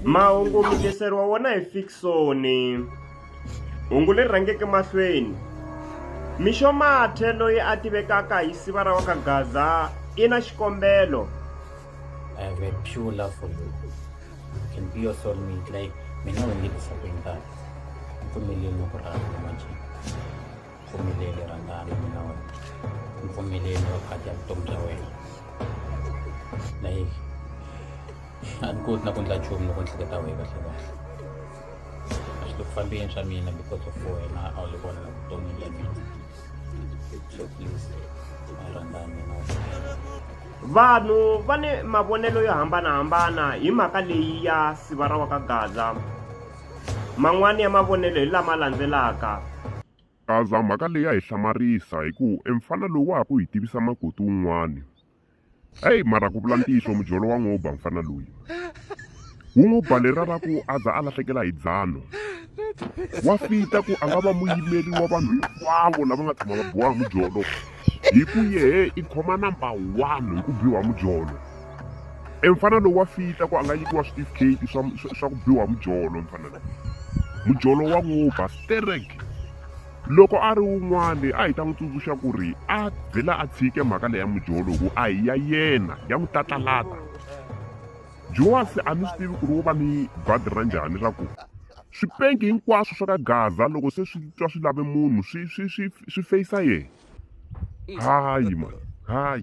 Mahungu mi tiseriwa wona hi Fiksoni. Hungu leri rhangeke mahlweni. Mixo Mathe loyi a tivekaka hi siva ra wa ka Gaza i na xikombelo. I have a pure love for you. You can be your soulmate like mina u ndzi ku sapeni kahle. Pfumeleni ku rhandza manje. pfumeleli rhangani mina wena ni pfumeleli va phati ya vutomi bya wena like a ni koti na ku endla nchumu loko ni hleketa wehe kahle kahle a swi le ku fambeni swa mina because of wena a wu le vona na vutomi bya mina so please rhangani mina vanhu va ni mavonelo yo hambanahambana hi mhaka leyi ya siva ra wa ka gaza Man'wana ya mavonelo hi lama landzelaka. Kaza, mhaka leyi ya hi hlamarisa hi ku emfana loyi wa ha ku hi tivisa makoti un'wana. Heyi mara ku vula ntiyiso mujolo wa n'wi ba mfana loyi. Wu n'wi ba lera ra ku a za a lahlekela hi dzano. Wa fita ku a nga va muyimeri wa vanhu hinkwavo lava nga tshama va biwa hi mujolo. hi ku yehe i khoma number one hi ku biwa mujolo e mfana lowu wa fita ku a nga nyikiwa switifiketi swa swa ku biwa mujolo mfana lowu mujolo wa ngopfa sterek loko a ri wun'wani a hi ta n'wi tsundzuxa ku ri a vhela a tshike mhaka leya mujolo ku a hi ya yena ya n'wi tatlalata joasi a ni swi tivi ku ri wo va ni badi ra njhani ra ku Swipenki hinkwaswo swa ka Gaza loko se swi twa swi lave munhu swi swi swi swi feyisa yena. Hayi mani, hayi.